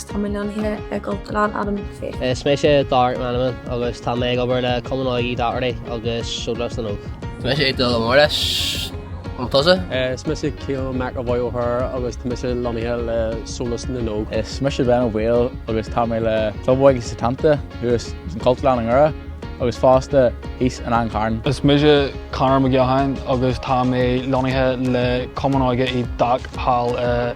Tá mé lonnaithe i gCultúrlann McAdam Ó Fiaich. Is mise Darach McMenamin agus tá mé ag obair le Cumann Óige Uí Dhochartaigh agus Sólás na nÓg. Is mise Dylan Morris. An tusa? Is mise Cian McEvoy ó Thoraigh agus tá mise lonnaithe le Sólás na nÓg. Is mise Ben Ó Baoill agus tá mé le Club Óige Setanta, thuas san Cultúrlann i nDoire agus fosta thíos in An Carn. Is mise Conor Mac Eoghain agus tá mé lonnaithe le Cumann Óige Uí Dhochartaigh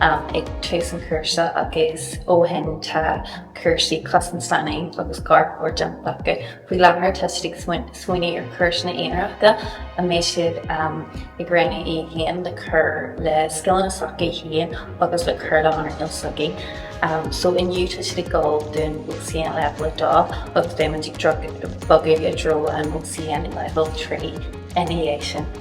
ag tús an chúrsa agus ó shin tá cúrsaí cosaint leanaí agus garchabhair déanta acu. Faoi láthair tá siad ag smaoineamh ar chúrsaí aonaracha a mbeidh siad ag roghnú iad féin le cur le scileanna s'acu féin agus le cur le hearnáil s'acu. So inniu tá siad ag dul don OCN Leibhéal 2 agus beimid ag bogadh i dtreo an OCN Leibhéal 3 ina dhiaidh sin.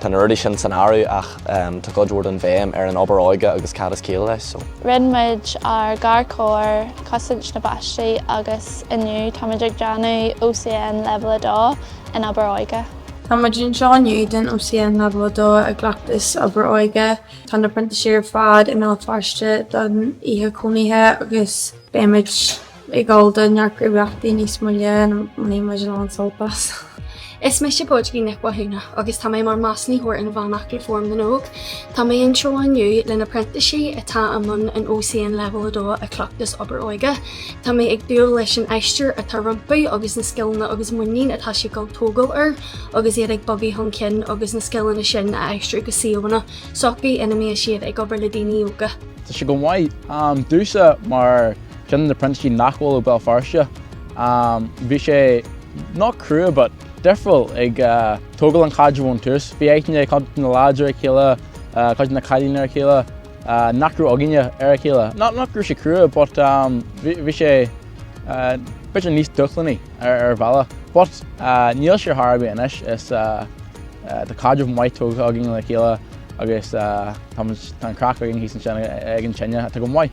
Tá na rudaí sin san áireamh ach tá cuid mhór den bhéim ar an obair óige agus cad is ciall leis so. Rinne muid ár garchabhair, cosaint na bpáistí agus inniu táimid ag déanamh OCN Leibhéal 2 in obair óige. Tá muid anseo inniu don OCN Leibhéal 2 i gCleachtas Obair Óige. Tá na printísigh ar fad i mBéal Feirste don oíche cónaithe agus beimid. Ag dul do neart gníomhaíochtaí níos moille a mbainfidh muid a lán sult as. Is mise Bridgie Nic Mhathúna agus tá mé mar Measúnaitheoir Inmheánach le Fóram na nÓg. Tá mé anseo inniu le na printísigh atá i mbun an OCN Leibhéal 2 i gCleachtas obair óige. Tá mé ag dúil leis an aistear atá rompu agus na scileanna agus muinín atá siad ag dul ag tógáil air agus iad ag bogadh chun cinn agus na scileanna sin a aistriú go suíomhanna s'acu ina mbeidh siad ag obair le daoine óga. Tá sé go maith. Tá, domsa mar. Duine de na printísigh nach bhfuil ó Béal Feirste. Bhí sé not crua but difriúil ag tógáil an chaidrimh ón tús. Bhí aithne ag cuid de na lads ar a chéile, cuid de na cailíní ar a chéile nach raibh againne ar a chéile. Not go raibh sé crua but bhí sé bit níos dúshlánaí ar bhealach. But níl sé ar chor ar bith anois is tá caidreamh maith tógtha againn le chéile agus tá an craic againn thíos ansin ag an tine, tá go maith.